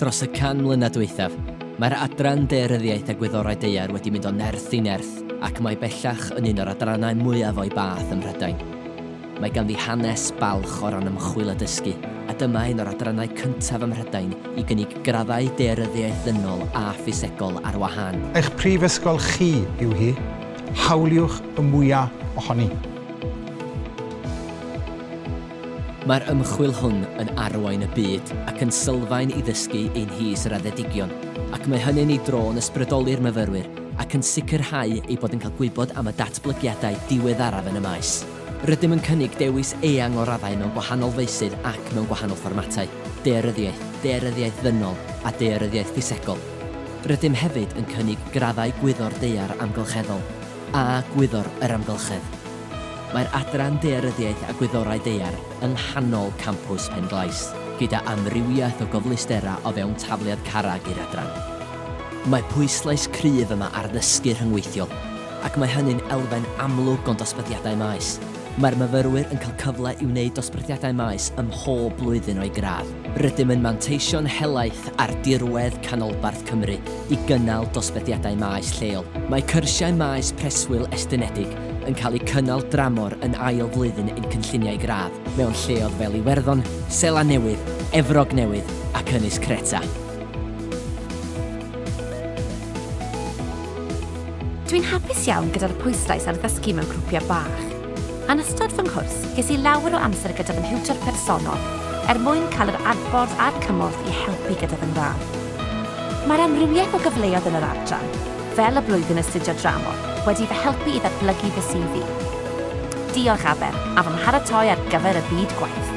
Dros y 100 mlynedd dwythaf, mae'r adran Daearyddiaeth a Gwyddorau Daear wedi mynd o nerth i nerth ac mae bellach yn un o'r adrannau mwyaf o'i bath ym Mhrydain. Mae ganddi hanes balch o ran ymchwil a dysgu, a dyma un o'r adrannau cyntaf ym Mhrydain i gynnig graddau Daearyddiaeth Ddynol a Ffisegol ar wahân. Eich prifysgol chi yw hi, hawliwch y mwyaf ohoni. Mae'r ymchwil hwn yn arwain y byd ac yn sylfaen i ddysgu ein nhîs raddedigion, ac mae hynny'n ei dro yn ysbrydoli'r myfyrwyr ac yn sicrhau eu bod yn cael gwybod am y datblygiadau diweddaraf yn y maes. Rydym yn cynnig dewis eang o raddau mewn gwahanol feysydd ac mewn gwahanol fformatau, daearyddiaeth, daearyddiaeth ddynol a daearyddiaeth ffisegol. Rydym hefyd yn cynnig graddau Gwyddor Daear Amgylcheddol a Gwyddor yr Amgylchedd. Mae'r Adran Daearyddiaeth a Gwyddorau Daear yng nghanol campws Pen-glais, gyda amrywiaeth o gyfleusterau o fewn tafliad carreg i'r Adran. Mae pwyslais cryf yma ar ddysgu rhyngweithiol, ac mae hynny'n elfen amlwg o'n dosbarthiadau maes. Mae'r myfyrwyr yn cael cyfle i wneud dosbarthiadau maes ym mhob blwyddyn o'u gradd. Rydym yn manteisio'n helaeth ar dirwedd canolbarth Cymru i gynnal dosbarthiadau maes lleol. Mae cyrsiau maes preswyl estynedig yn cael eu cynnal dramor yn ail flwyddyn ein cynlluniau gradd mewn lleoedd fel Iwerddon, Seland Newydd, Efrog Newydd ac Ynys Creta. Dw i'n hapus iawn gyda'r pwyslais ar ddysgu mewn grwpiau bach. Yn ystod fy nghwrs, ges i lawer o amser gyda fy nhiwtor personol er mwyn cael yr adborth a'r cymorth i helpu gyda fy ngradd. Mae'r amrywiaeth o gyfleoedd yn yr adran, Fel y blwyddyn astudio dramor wedi fy helpu i ddatblygu fy CV. Diolch Aber a fy mharatoi ar gyfer y byd gwaith.